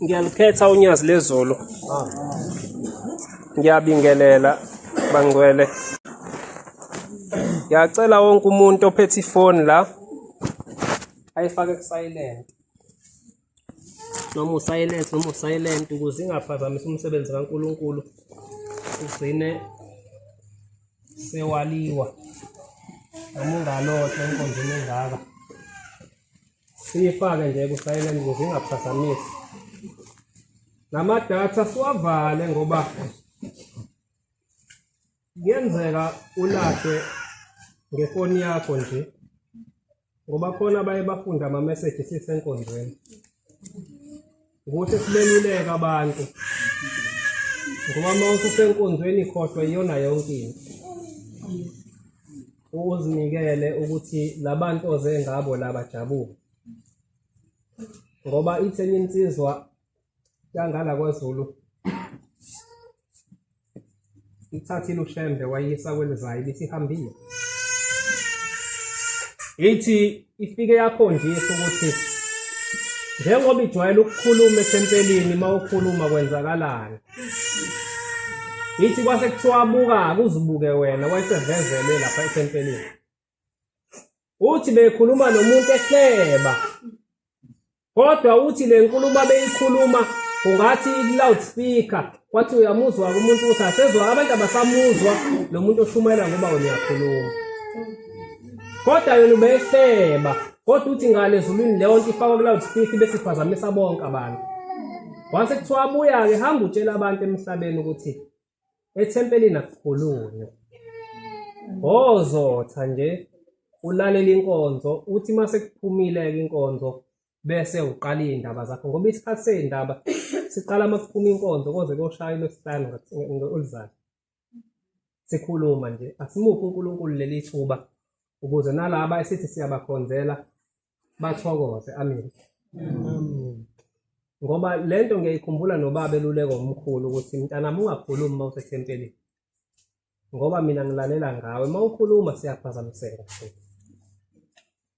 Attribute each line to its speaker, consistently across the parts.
Speaker 1: ngiyalukhetha unyazi lezulu ngiyabingelela bangcwele ngiyacela wonke umuntu ophethe ifoni la ayifake kusilent noma usilent noma usilent ukuze ingaphazamisa umsebenzi kaNkuluNkulu ugcine sewaliwa noma ungalohle enkonzweni engaka siyifake nje ku-silent ukuze ingaphazamisi namadatha siwavale ngoba kuyenzeka ulahle ngefoni yakho nje ngoba khona baye bafunde amameseji sisenkonzweni ukuthi sibeluleka abantu ngoba uma ususenkonzweni khohlwa iyona yonke into uzinikele ukuthi labantu oze ngabo laba jabule ngoba itheni insizwa yangala kwazulu ithathile ushembe wayisa kwelizayo ibisihambile ithi ifike yakhonjisa ukuthi njengoba ijwayele ukukhuluma ethempelini uma ukhuluma kwenzakalani ithi kwase kuthiwa buka-ke uzibuke wena wayesevezelwe lapha ethempelini uthi bekhuluma nomuntu ehleba kodwa uthi le nkulumo abeyikhuluma ungathi i-loudspeaker kwathi uyamuzwa umuntu ukuthi asezwa abantu abasamuzwa lo muntu oshumayela ngoba wena uyakhuluma kodwa yona ubehleba kodwa uthi ngale ezulwini leyo nto ifakwa ku-loudspeaker bese iphazamisa bonke abantu wase kuthiwa abuya-ke hamba utshela abantu emhlabeni ukuthi Ethempelini akukhulunywa. Ozotha nje ulalela inkonzo uthi uma sekuphumile-ke inkonzo bese uqala iy'ndaba zakho ngoba isikhathi sey'ndaba siqala uma kuphuma inkonzo koze koshaya lwesihlanu oluzayo sikhuluma nje asimuphi unkulunkulu leli thuba ukuze nalaba esithi siyabakhonzela bathokoze amen ngoba lento ngiyayikhumbula nobaba eluleko omkhulu ukuthi mntanami ungakhulumi uma usethempelini ngoba mina ngilalela ngawe uma ukhuluma siyaphazamiseka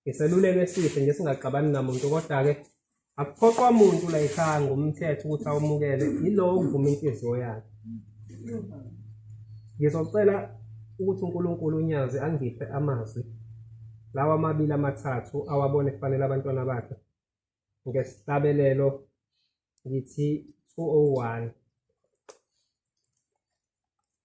Speaker 1: ngiseluleko esihle nje singaxabani namuntu kodwa-ke akuphoqwa muntu la ekhaya ngomthetho ukuthi awumukele yilowo okuvuma inhliziyo yakhe ngizocela ukuthi uNkulunkulu unyazi angiphe amazwi lawa amabili amathathu awabone kufanele abantwana bakhe ngesihlabelelo ngithi 201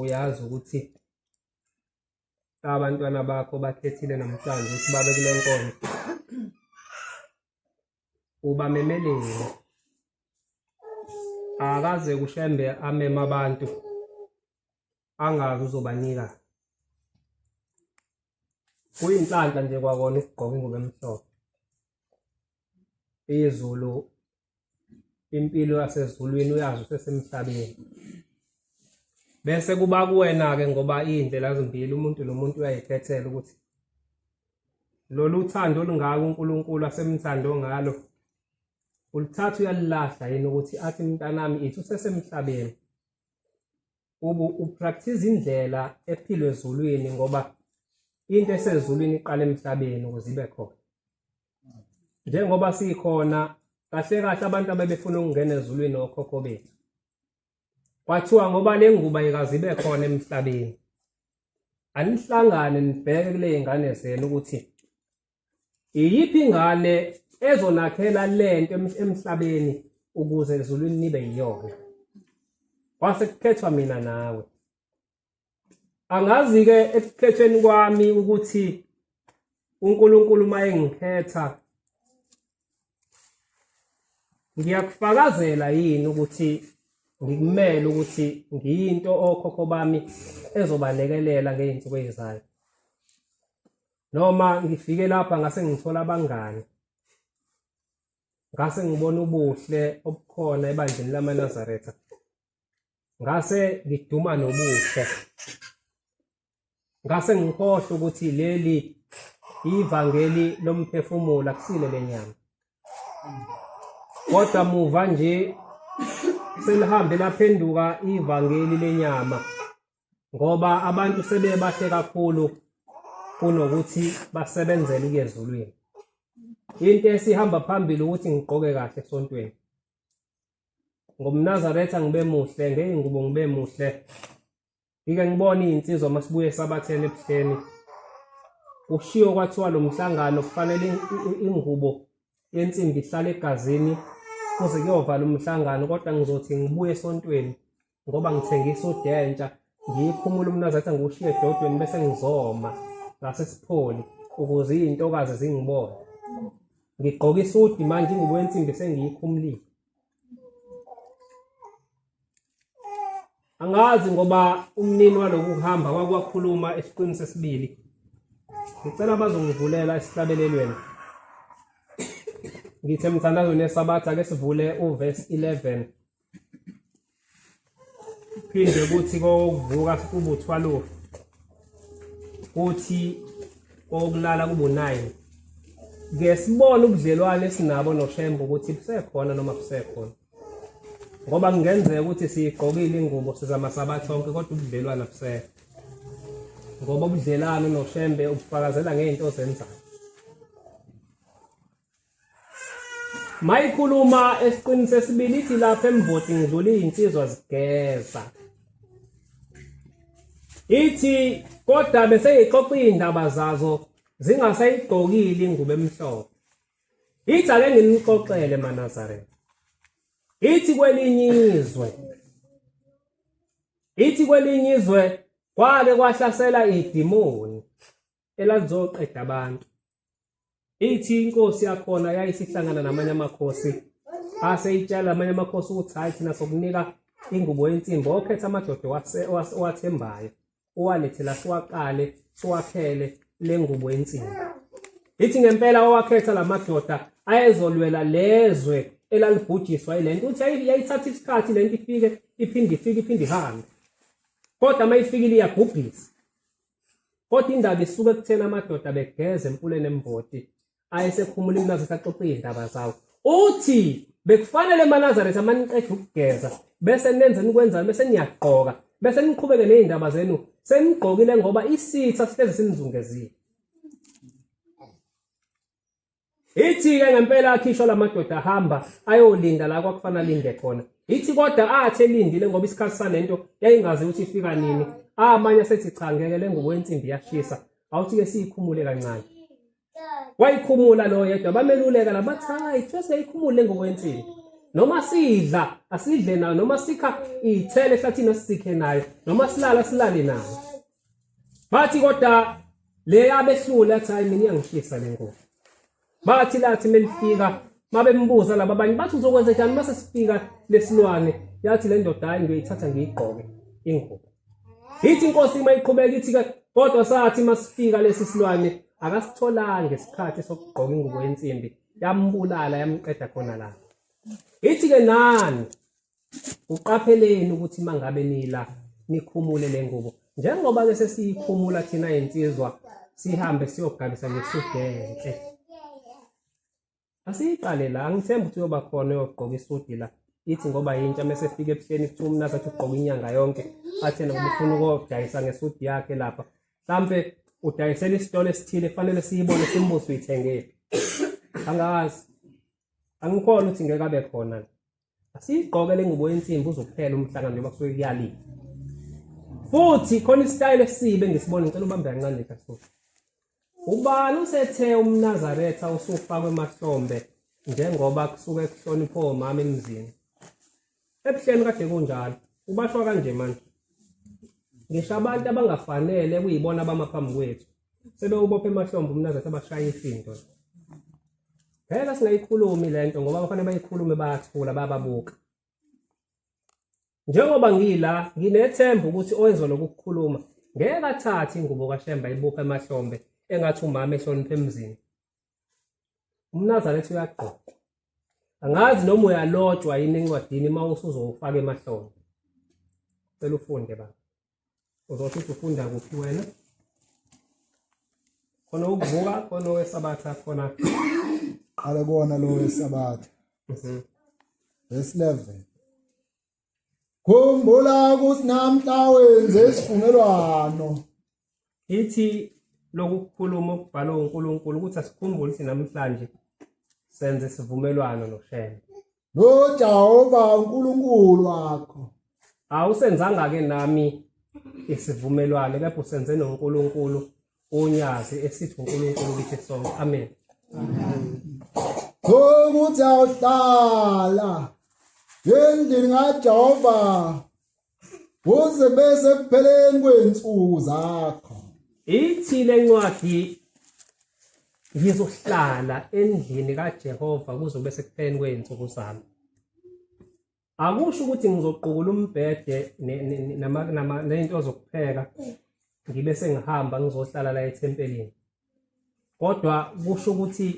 Speaker 1: uyazi ukuthi abantwana bakho bakhethile namhlanje ukuthi babe kule nkonzo ubamemelile akaze kushembe amema abantu angazi uzobanika kuyinhlanhla nje kwakona ukugqoka ingubo emhlophe izulu impilo yasezulwini uyazi usesemhlabeni bese kuba kuwena-ke ngoba iy'ndlela zimbili umuntu nomuntu uyayikhethela ukuthi lolu thando olungaka unkulunkulu asemthando ngalo ulithatha uyalilahla yini ukuthi athi mntanami ithi usesemhlabeni upractice indlela ephilwe ezulwini ngoba into esezulwini iqala emhlabeni ukuze ibe khona njengoba sikhona kahle kahle abantu abebefuna ukungena ezulwini okhokho bethu kwathiwa ngoba le nguba ikazibe khona emhlabeni anihlangane nibheke kule ngane zenu ukuthi iyiphi ingane ezonakhela lento emhlabeni ukuze ezulwini nibe yiyona kwase kukhethwa mina nawe angazi-ke ekukhetheni kwami ukuthi uNkulunkulu uma engikhetha ngiyakufakazela yini ukuthi ngikumele ukuthi ngiyinto okhokho bami ezobalekelela ngey'nsuku ey'zayo noma ngifike lapha ngase ngithola abangani ngase ngibona ubuhle obukhona ebandleni lamanazaretha ngase ngiduma nobuhle ngase ngikhohle ukuthi leli ivangeli lomphefumulo akusile lenyama kodwa muva nje selihambe laphenduka ivangeli lenyama ngoba abantu sebebahle kakhulu kunokuthi basebenzele ukuyezulwini into esihamba phambili ukuthi ngigqoke kahle esontweni ngomnazaretha ngibe muhle ngey'ngubo ngibe muhle ngike ngibone iy'nsizwa uma sibuye esabatheni ebuhleni kushiwo kwathiwa lo mhlangano kufanele ingubo yensimbi ihlale egazini kuze kuyovala umhlangano kodwa ngizothi ngibuye esontweni ngoba ngithengisa udentsha ngiyikhumula umnazi athi ngiwushiye edodweni bese ngizoma ngasesipholi ukuze izintokazi zingibone ngigqoka isudi manje ingubo yensimbi sengiyikhumulile angazi ngoba umnini waloku kuhamba kwakwakhuluma esiqwini sesibili ngicela bazongivulela esihlabelelweni ngithe mthandazweni yesabatha ke sivule uverse 11 phinde kuthi kokuvuka kube u-12 kuthi kokulala kube u-9 ke sibone ubudlelwane esinabo noshembe ukuthi busekhona noma busekhona ngoba kungenzeka ukuthi siyigqokile ingubo sizama sabathi sonke kodwa ubudlelwane abusekho ngoba ubudlelwane noshembe ubufakazela ngey'nto ozenzayo Mayikhuluma esiqinise esibili ithi lapha emvoti ngidlula izinsizwa zigeza. Ithi kodwa bese yixoxa indaba zazo zingasayigqokile ingubo emhlophe. Ithi ake nginixoxele maNazaretha. Ithi kwelinye izwe Ithi kwelinye izwe kwake kwahlasela idimoni. elazoqeda abantu ithi inkosi yakhona yayisihlangana namanye amakhosi ase itshala amanye amakhosi ukuthi hayi thina sokunika ingubo yensimbi okhetha amadoda owathembayo owalethela siwaqale siwakhele le ngubo yensimbi ithi ngempela owakhetha la madoda ayezolwela lezwe elalibhujiswa yile nto uthi yayithatha isikhathi le nto ifike iphinde ifike iphinde ihambe kodwa uma ifikile iyabhubhisa Kodwa indaba isuke ekutheni amadoda begeza emfuleni emvoti ayesekhumula imlazi saxoxa izindaba zawo. Uthi bekufanele emanazareth amaniqeda ukugeza bese nenze nikwenzayo bese niyagqoka bese niqhubeke nezindaba zenu senigqokile ngoba isitha sihlezi sinizungezile. Ithi ke ngempela akhishwa lamadoda ahamba ayolinda la kwakufana linde khona. Ithi kodwa athi elindile ngoba isikhathi salento yayingazi ukuthi ifika nini. Amanye asethi cha ngeke lengubo ensimbi yashisa. Awuthi ke siyikhumule kancane. Wayikhumula lo yedwa bameluleka labathayi ithiwe seyikhumule lengubo ensimbi. Noma sidla asidle nayo noma sikha ithele ehlathini asikhe nayo noma silala silale nayo. bathi kodwa le yabehlula athi hayi mina iyangihlisa le nkolo bathi lathi melifika mabembuza laba abanye bathi uzokwenza njani mase sifika lesilwane yathi le ndoda hayi ngiyoyithatha ngiyigqoke ingubo yithi inkosi uma iqhubeka ithi ke kodwa sathi masifika lesi silwane akasitholanga isikhathi sokugqoka ingubo yensimbi yambulala yamqeda khona lapho ithi ke nani uqapheleni ukuthi mangabe nila nikhumule le ngubo njengoba-ke sesiyikhumula thina yinsizwa sihambe siyogabisa ngesudu enhle asiyiqale la angithembi ukuthi uyoba khona uyogqoka isudi la ithi ngoba yintsha mese efika ebuhleni kuthiwa umnazi athi ugqoka inyanga yonke athena ngoba ufuna ukodayisa ngesudi yakhe lapha mhlampe udayisela isitolo esithile kufanele siyibone simbuze uyithengephi angazi angikhona ukuthi ngeke abe khona Asiyigqoke le ngubo yensimbi uzophela umhlangano njengoba kusuke kuyaliwa. Futhi khona isitayile esibe ngisibona ngicela ubambe kancane nje kaSuku. Ubani usethe umNazaretha usufakwe emahlombe njengoba kusuke kuhlonipho omama emzini. Ebuhleni kade kunjalo. Ubashwa kanje manje. Ngisho abantu abangafanele kuyibona abama phambi kwethu. Sebe ubophe emahlombe umnazi athi abashaye ifinto. Phela singayikhulumi lento ngoba abafana bayikhulume bayathula bababuka. Njengoba ngila nginethemba ukuthi oyezwa lokukhuluma ngeke athathe ingubo kaShemba ibuphe emahlombe engathi umama ehlonipha emzini. Umnazana ethi uyagqoka. Angazi noma uyalotshwa yini encwadini uma usuzowufaka emahlombe. Cela ufunde baba. uzothi ufunda kuphi wena khona ukuvuka khona owesabatha khona qale
Speaker 2: kona lo wesabatha mhm. verse 11 khumbula ukuthi namhla wenze isivumelwano Ithi
Speaker 1: lokukhuluma ukubhala uNkulunkulu ukuthi asikhumbule ukuthi namhlanje senze isivumelwano noShembe. NoJehova
Speaker 2: uNkulunkulu wakho. Awusenzanga
Speaker 1: ke nami isivumelwano kepha usenze noNkulunkulu onyazi esithi uNkulunkulu kithi sonke. Amen. Amen.
Speaker 2: Ukuthi awuhlala endlini kaJehova kuze bese kupheleni kwensuku zakho ithi
Speaker 1: lencwadi ngizohlala endlini kaJehova kuzobe sekupheleni kwensuku zami akusho ukuthi ngizoqukula umbhede nezinto zokupheka ngibe sengihamba ngizohlala la ethempelini kodwa kusho ukuthi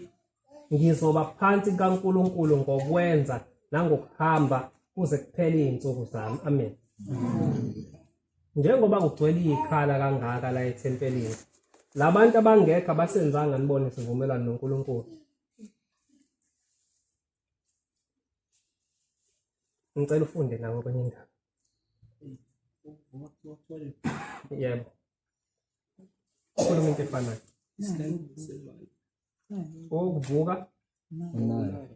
Speaker 1: ngizoba phansi kaNkulunkulu ngokwenza nangokuhamba kuze kuphele izinsuku zami amen njengoba kugcwele ikhala kangaka la ethempelini labantu abangekho abasenzanga nibone sivumelwano noNkulunkulu ngicela ufunde nawe kwenye indawo yebo Ukhona umuntu efanayo. Okuvuka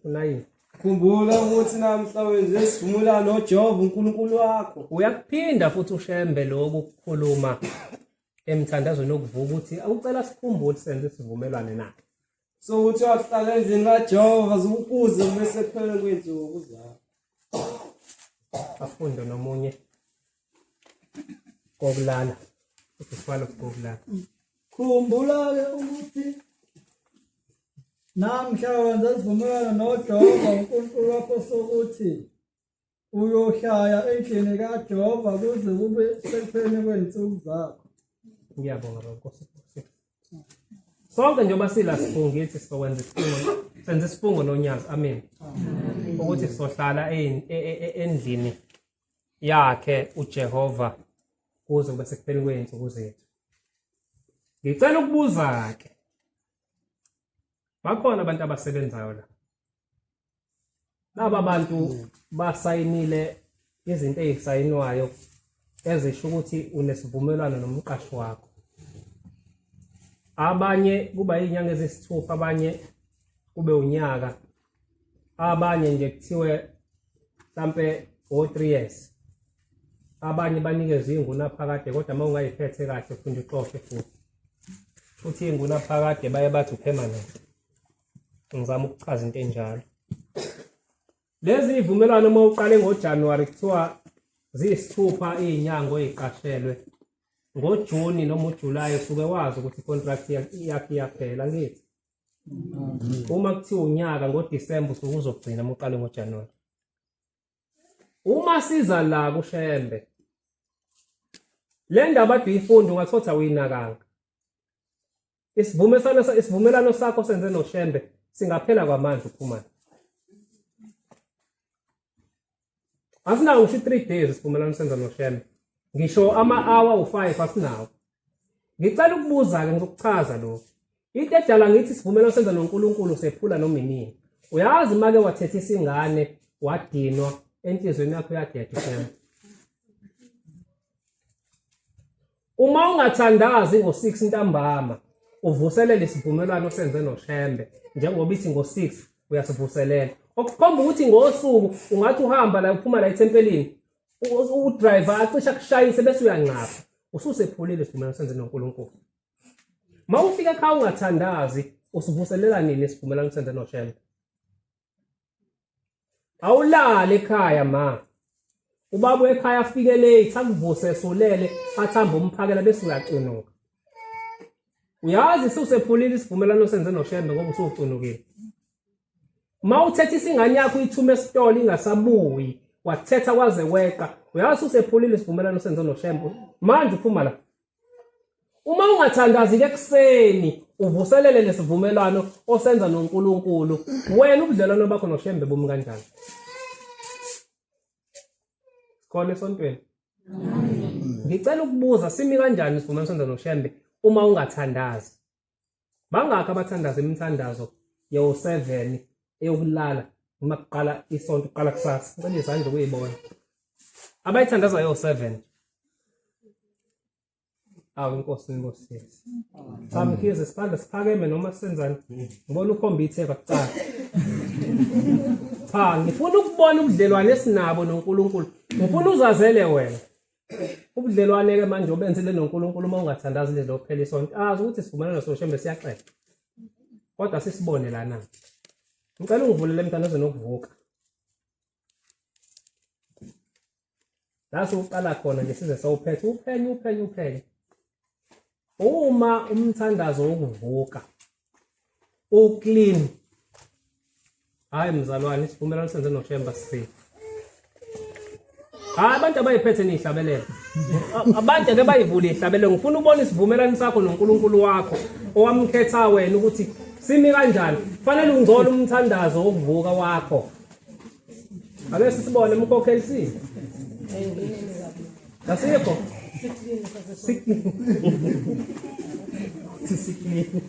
Speaker 1: unayini. Khumbula
Speaker 3: ukuthi namhla wenze isivumelwano noJehova uNkulunkulu wakho. Uyakuphinda futhi
Speaker 1: ushembe lokhu kukhuluma emthandazweni wokuvuka ukuthi awucela sikhumbule senze isivumelwane naye. so ukuthi
Speaker 3: wahlala endlini kajehova zikukuze bese kuphele kwenzuku zabo
Speaker 1: afunde nomunye kokulala ukusifala kokulala khumbula-ke
Speaker 4: ukuthi namhla wenza isivumelwano nojehova unkulunkulu wakho sokuthi uyohlaya endlini kajehova kuze
Speaker 1: kube sekupheni kwey'nsuku zakho ngiyabonga bankosi sonke njengoba sila sifungithi sizokwenza isifungo senza isifungo nonyazi amen ukuthi sizohlala e, e, e, endlini yakhe ujehova kuze kube sekupheni kwey'nsuku zethu ngicela ukubuza-ke bakhona abantu abasebenzayo la laba bantu basayinile izinto ezisayinwayo ezisho ukuthi unesivumelwano nomqashi wakho abanye kuba izinyanga ezisithupha abanye kube unyaka abanye nje kuthiwe mhlampe o-3 years abanye banikezwe ingunaphakade kodwa uma ungayiphethe kahle funda uxoshe futhi futhi ingunaphakade baye bathi upermanent ngizama ukuchaza into enjalo lezi ivumelwano uma uqale ngojanuwari kuthiwa ziyisithupha iy'nyanga oy'qashelwe ngojuni noma ujulayi usuke wazi ukuthi i-contract yakhe iyaphela ngithi mm. uma kuthiwa unyaka ngodisemba usuke uzogcina uma uqale ngojanuwari uma siza la kushembe le ndaba aduyifunda ungathotha uyinakanga isivumelwano sakho senze noshembe singaphela kwamanje uphumane asinawo ngisho i-three days isivumelwano senza noshembe ngisho ama-hour u-five asinawo ngicela ukubuza-ke ngizokuchaza lokhu into edala ngithi isivumelwano senza nonkulunkulu sephula noma inini uyazi make wathetha isingane wadinwa enhlizweni yakho uyadeda ushembe Uma ungathandazi ngo-6 ntambama uvuselele isivumelwano osenze noShembe njengoba ithi ngo-6 uyasivuselela. Okukhomba ukuthi ngosuku ungathi uhamba la uphuma la ethempelini udriver acisha kushayise bese uyanqapha ususephulile isivumelwano senze noNkulunkulu. Uma ufika ekhaya ungathandazi usivuselela nini isivumelwano senze noShembe? awulale ekhaya ma ubaba ekhaya afike late akuvuse esulele athamba umphakela bese uyacunuka uyazi susephulile isivumelwano senze noshembe ngoba usucunukile ma uthetha isingane yakho uyithume esitolo ingasabuyi wathetha kwaze weqa uyazi usephulile isivumelwano senze noshembe manje uphuma la Uma ungathandazi ke kuseni uvuselele lesivumelwano osenza noNkulunkulu wena ubudlelwano bakho noShembe bumi kanjani khona esontweni ngicela ukubuza simi kanjani isivumelwano senza noShembe uma ungathandazi bangakho abathandaza imithandazo yo-7 eyokulala uma kuqala isonto kuqala kusasa ngicela izandla ukuyibona abayithandaza yo-7 awu inkosi inkosi samkhize siphandla siphakeme noma senzani ngibona ukhomba itheba kuqala cha ngifuna ukubona ubudlelwane esinabo noNkulunkulu ngifuna uzazele wena ubudlelwane ke manje obenzile noNkulunkulu uma ungathandazi lezi lokuphela isonto azi ukuthi sivumelana soshembe siyaxesha kodwa sisibone lana ngicela ungivulele mntana oze nokuvuka la siwuqala khona nje size sawuphethe uphenye uphenye uphenye uma umthandazo wokuvuka uclean hayi mzalwane isivumelwano senze noshemba sisafe hayi abantu abayiphethe niyihlabelele abantu ake bayivule ihlabelele ngifuna ubona isivumelwano sakho nonkulunkulu wakho owamkhetha wena ukuthi simi kanjani fanele ungcola umthandazo wokuvuka wakho Ake sisibone umkhokheli si. Kasikho. Sisikini.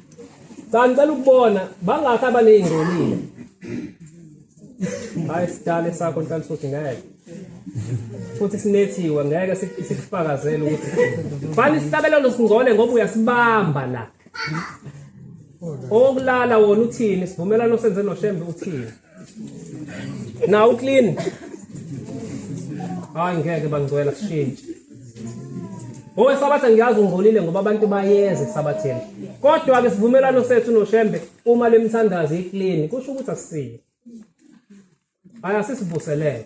Speaker 1: Cha ngicela ukubona bangakhi abaneyingcolile. Hayi sidale sakho ntansuthi ngeke. Futhi sinethiwe ngeke sikufakazele ukuthi fani sihlabelelo singcole ngoba uyasibamba la. Okulala wona uthini sivumelano senze noShembe uthini. Now clean. Hayi ngeke bangcwela kushintshe. Ngoba sabatha ngiyazi ungcolile ngoba abantu bayeza esabatheni. Kodwa ke sivumelwano sethu noShembe uma lemthandazi iclean kusho ukuthi asisile. Aya sisivuselele.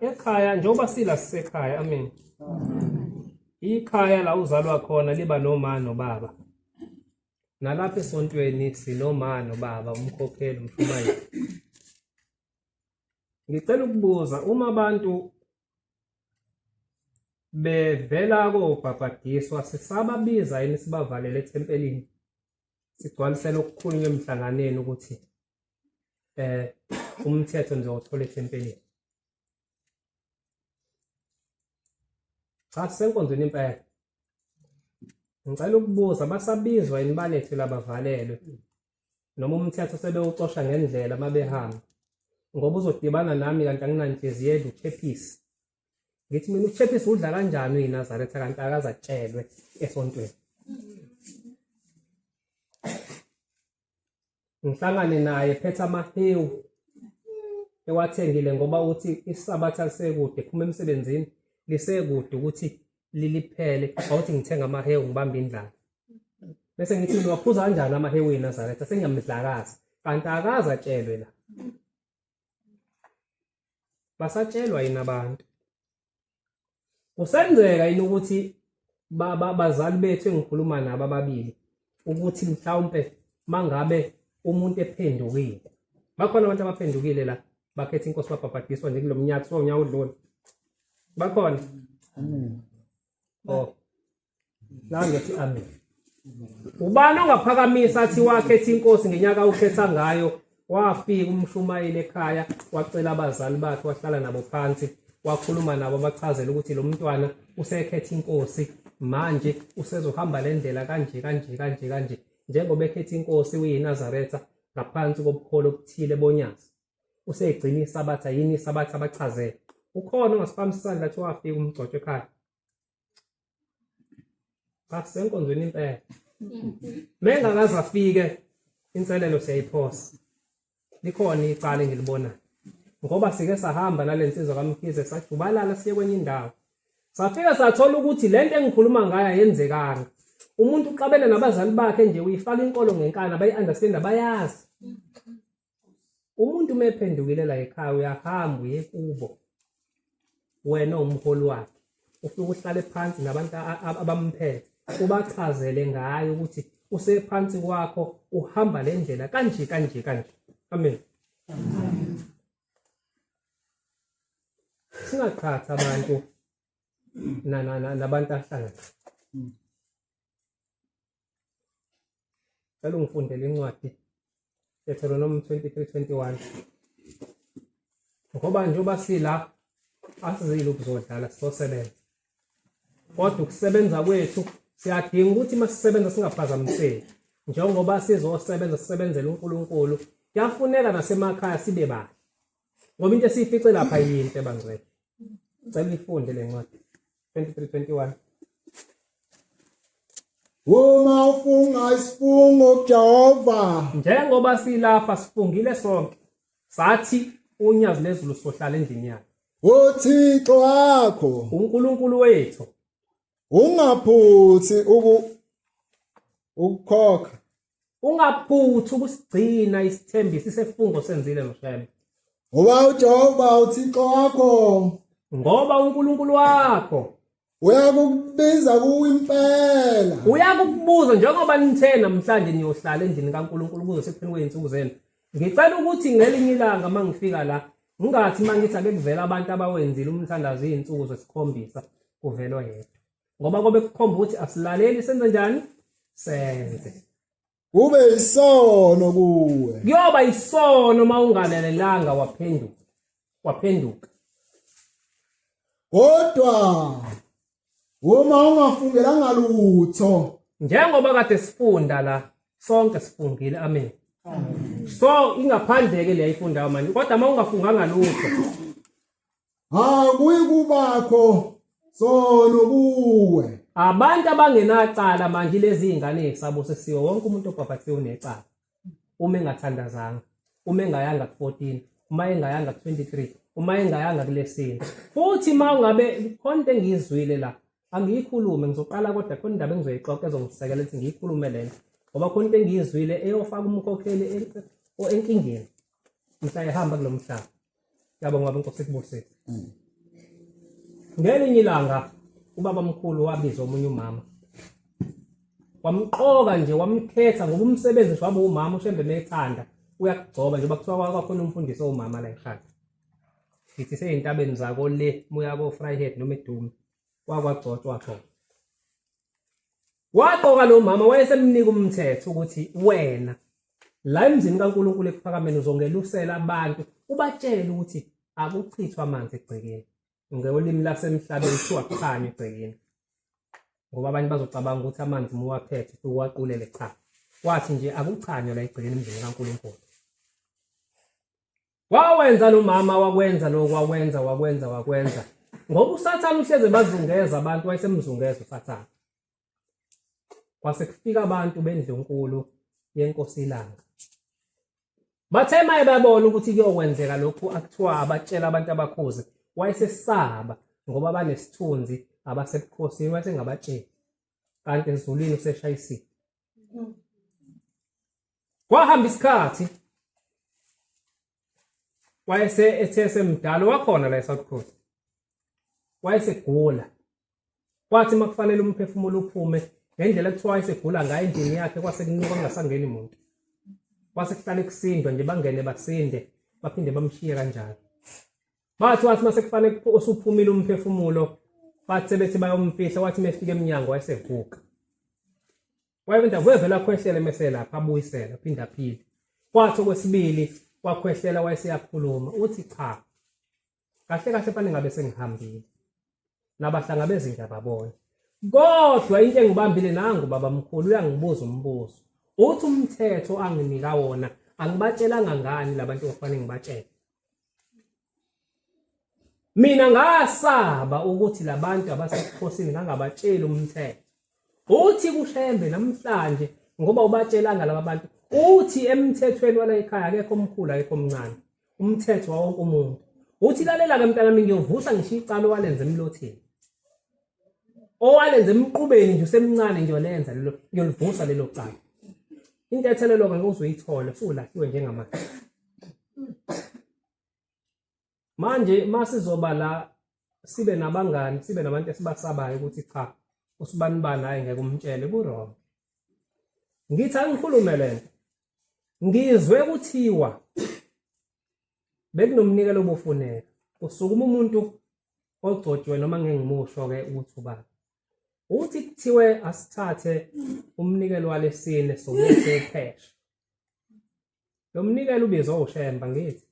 Speaker 1: ekhaya njengoba sila sisekhaya amen ikhaya la uzalwa khona liba nomama nobaba nalapha esontweni sinomama nobaba umkhokheli umshumayeli Ngicela ukubuza uma abantu bevela kobhabhadiswa sisababiza yini sibavalele ethempelini sigcwalisela okukhulunywa emhlanganeni ukuthi eh umthetho nje othola ethempelini cha senkonzweni impela ngicela ukubuza basabizwa yini balethwe labavalelwe noma umthetho sebewucosha ngendlela uma behamba ngoba uzodibana nami kanti anginanhliziyo edla uchephisi ngithi mina uchephisi udla kanjani uyinazaretha kanti akaze atshelwe esontweni ngihlangane naye phethe amahewu ewathengile ngoba uthi isabatha lisekude phuma emsebenzini lisekude ukuthi liliphele awuthi ngithenga amahewu ngibambe indlala bese ngithi niwaphuza kanjani amahewu enazaretha sengiyamdlakaza kanti akaze atshelwe la basatshelwa yini abantu kusenzeka yini ukuthi bazali bethu engikhuluma nabo ababili ukuthi mhlawumpe mangabe umuntu ephendukile bakhona abantu abaphendukile la bakhetha inkosi babhabhadiswa nje kulo mnyaka so unyaka odlule bakhona
Speaker 2: oh
Speaker 1: nangethi amen ubani ongaphakamisa athi wakhetha inkosi ngenyaka ukhetha ngayo wafika umshumayeli ekhaya wacela abazali bakhe wahlala nabo phansi wakhuluma nabo bachazela ukuthi lo mntwana usekhetha inkosi manje usezohamba le ndlela kanje kanje kanje kanje njengoba ekhetha inkosi uyinazaretha ngaphansi kobukholo obuthile bonyazi usegcina isabatha yini isabatha abachazele ukhona ongasiphamisa isandla kuthiwa afike umgcotshwa ekhaya but senkonzweni impela mengakaze afike inselelo siyayiphosa likhona icala engilibonayo ngoba sike sahamba nale nsizwa kamkhize sajubalala siye kwenye indawo safika sathola ukuthi le nto engikhuluma ngayo ayenzekanga umuntu uqabela nabazali bakhe nje uyifaka inkolo ngenkani abayi-understand abayazi umuntu mephendukile la ekhaya uyahamba uye kubo wena umholi wakhe ufike uhlale phansi nabantu abamphethe ubachazele ngayo ukuthi usephansi kwakho uhamba le ndlela kanje kanje kanje amen singaqhathi abantu nabantu ahlangana cela ungifundele incwadi Deuteronomy 23:21 ngoba njengoba sila asizile ukuzodlala sizosebenza kodwa ukusebenza kwethu siyadinga ukuthi uma sisebenza singaphazamiseki njengoba sizosebenza sisebenzele uNkulunkulu kuyafuneka nasemakhaya sibe bahle ngoba into esiyifice lapha yinto ebangcwele cela uyifunde le ncwadi
Speaker 2: 2321 Uma ufunga isifungo kuJehova njengoba
Speaker 1: silapha sifungile sonke sathi unyazi lezulu sohlala endlini yakhe uThixo
Speaker 2: wakho uNkulunkulu wethu
Speaker 1: ungaphuthi
Speaker 2: uku ukukhokha ungaphuthi
Speaker 1: ukusigcina isithembiso isefungo senzile mshebe ngoba
Speaker 2: uJehova uThixo wakho ngoba
Speaker 1: uNkulunkulu wakho uyakubiza
Speaker 2: kuwe impela uyakubuza
Speaker 1: njengoba nithe namhlanje niyohlala endlini kaNkulunkulu kuze sekupheni kweyinsuku zenu ngicela ukuthi ngelinye ilanga mangifika la ngingathi mangithi ake kuvela abantu abawenzile umthandazo izinsuku zesikhombisa kuvelwa yedwa ngoba kobe kukhomba ukuthi asilaleli senze njani senze kube
Speaker 2: isono kuwe kuyoba isono
Speaker 1: uma ungalalelanga waphenduka waphenduka
Speaker 2: kodwa uma ungafungelanga lutho njengoba kade
Speaker 1: sifunda la sonke sifungile amen so ingaphandle ke leyifunda manje kodwa uma ungafunganga lutho akuyi
Speaker 2: kubakho sono kuwe abantu
Speaker 1: abangenacala manje lezi ingane yesabo sesiwe wonke umuntu obhabhathiwe unecala uma engathandazanga uma engayanga ku-14 uma engayanga ku-23 uma engayanga kulesini futhi uma ungabe khona into engiyizwile la angiyikhulume ngizoqala kodwa khona indaba engizoyixoxa ezongisekela ukuthi ngiyikhulume le nto ngoba khona into engiyizwile eyofaka umkhokheli enkingeni mhla ehamba kulo mhlaba yabo ngoba inkosi ikubusise mm. ngelinye ilanga ubaba mkhulu wabiza omunye umama wamqoka nje wamkhetha ngoba umsebenzi nje waba umama ushembe methanda uyakugcoba njengoba kuthiwa kwakhona umfundisi owumama la ekhanda ngithi seyintabeni zako le muya ko-fryhead noma edume kwakwagcotshwa khona Waqoka lo mama wayesemnika umthetho ukuthi wena la emzini kaNkulunkulu ekuphakameni uzongelusela abantu ubatshele ukuthi akuchithwa amanzi egcekeni ngolimi lasemhlabeni kuthiwa kukhanye egcekeni ngoba abanye bazocabanga ukuthi amanzi muwaphethe uwaqulele cha wathi nje akuchanywa la egcekeni emzini kaNkulunkulu wawenza lo mama wakwenza lokho wakwenza wakwenza wakwenza ngoba usathane uhleze bazungeza abantu wayesemzungeza usathane kwase kufika abantu bendlunkulu yenkosi ilanga bathe maye babona ukuthi kuyokwenzeka lokhu akuthiwa abatshela abantu abakhozi wayesesaba ngoba banesithunzi abasebukhosini wayesengabatsheli kanti ezulwini useshayisile kwahamba isikhathi wayese ethe semdala wakhona la eSouth Coast wayesegula kwathi makufanele umphefumulo uphume ngendlela ekuthiwa wayesegula ngayo endlini yakhe kwase kunuka kungasangeni muntu kwase kuhlala ekusindwa nje bangene basinde baphinde bamshiye kanjalo bathi wathi mase kufanele usuphumile umphefumulo bathi sebethi bayomfihla wathi mefika emnyango wayesevuka wayephinda wevela khwehlela emesela lapha abuyisela phinda phinde kwathi okwesibili wakhwehlela wayeseyakhuluma uthi cha kahle kahle fanele ngabe sengihambile nabahlangabezi nje ababona kodwa into engibambile nangu baba mkhulu uyangibuza umbuzo uthi umthetho anginika wona angibatshelanga ngani labantu okufanele ngibatshele mina ngasaba ukuthi labantu abasebukhosini ngangabatsheli umthetho uthi kushembe namhlanje ngoba ubatshelanga laba bantu uthi emthethweni wala ekhaya akekho omkhulu akekho omncane umthetho wawonke umuntu uthi lalela ke mntanami ngiyovusa ngisho icala owalenza emlothini owalenza emqubeni nje usemncane nje olenza lelo ngiyolivusa lelo cala intethelelo ke uzoyithola usulahliwe njengamanje manje masizoba la sibe nabangani sibe nabantu esibasabayo ukuthi cha usibani bani hayi ngeke umtshele kurong ngithi angikhulume lento ngizwe kuthiwa bekunomnikelo obufuneka kusukuma umuntu ogcotshwe noma ngengimusho ke ukuthi ubani uthi kuthiwe asithathe umnikelo walesine somuthi uphesha Lo mnikelo ubizwa uShemba ngithi.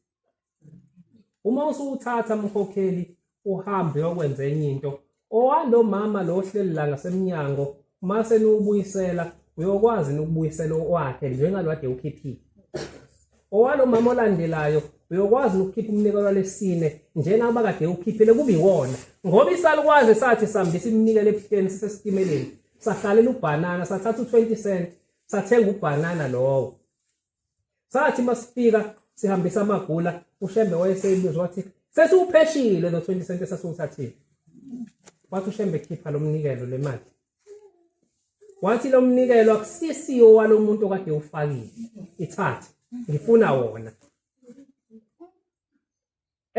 Speaker 1: Uma usuwuthatha mkhokheli uhambe uyokwenza enye into owalo mama lo ohleli la ngasemnyango mase niwubuyisela uyokwazi nokubuyisela okwakhe njengalwade ukhiphile owalo mama olandelayo uyokwazi nokukhipha umnikelo lesine njengoba kade ukhiphile kube iwona ngoba isalukwazi sathi sambisa iminikelo ebuhleni sisesitimeleni sahlalela ubhanana sathatha u20 cent sathenga ubhanana lowo sathi masifika sihambisa amagula ushembe wayeseyibuza wathi sesiwupheshile lo 20 cent esasiwuthathile wathi ushembe khipha lo mnikelo le mali wathi lo mnikelo akusisiwo walo muntu okade ufakile ithathe ngifuna wona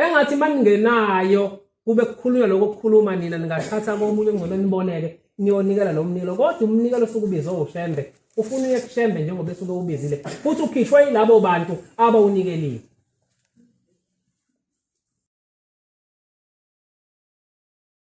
Speaker 1: engathi maningenayo kube kukhulunywa lokho kukhuluma nina ningathatha komunye ongcono niboneke niyonikela lo mnikelo kodwa umnikelo osuke ubizwe ushembe ufuna uye kushembe njengoba esuke ubizile futhi ukhishwe yilabo bantu abawunikelile